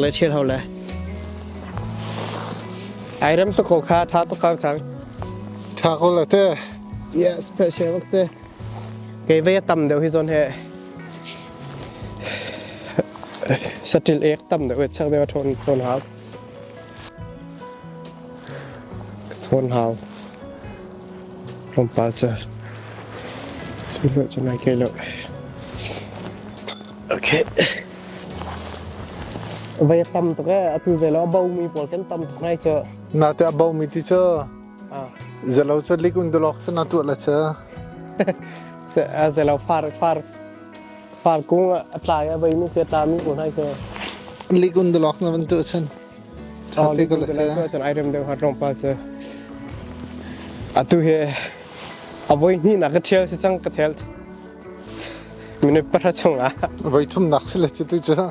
le chiat ho le ai ram to ko kha tha to kang kang tha ko le te yes pe she wak te ke ve tam deuh hi zon he Saṭil ek tam deuh chek deuh a ṭhawn hau. Ṭhawn hau. Tlawmpal cu cu lawh cu nai ke lawh. Okay. Vai a tam tuk e, atu zelo a baumi pawl kan tam tuk nai cu. Na te a baumi ti cu zelo cu lik undulok cu na tuah la cu. Zelo far far Parkung a tlai a vei mi ke tla mi ko nai ke. Likun de lok na van tu chan. Oh, likun de lok chan item de hat rong pa che. Atu he a voi ni na ka thiel se chang ka thel. Mine para chung a. Voi thum nak se le tu cha.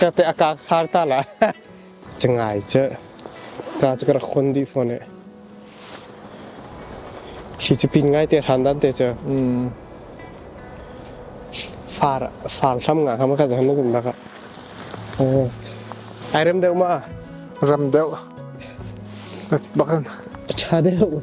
Cate a kak sar ta la. Cangai cu. Ta cu ka rak khon dih fon e. Khi cu pin ngai te than dan te cu. Mm. Far far thlam nga ham ka jan na jun baka. Oh. Ai rem deu ma. Ram deu. Bakan. Tha deu.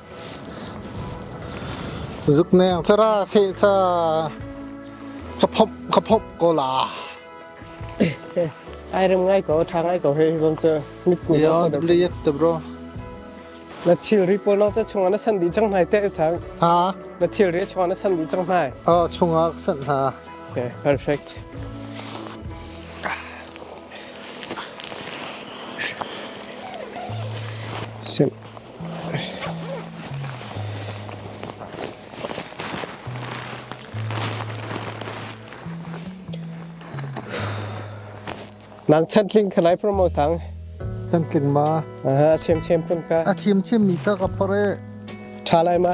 Zukneng cara seh ca ka phomh ko la. Ai rem ngai ko tha ngai ko he zon ca mit ku lo ko. Dab le yet te bro. Na thil ri po lo ca chung na san di chang nai te tha. Ha. Na thil ri chung na san di chang nai. Oh chunga san ha. Okay, perfect. Sim. Nang chan tling kha lai promo tang. Chan tling ma. Aha, a chim chim pun ka. A chim chim mi ka ka pare. Tha lai ma.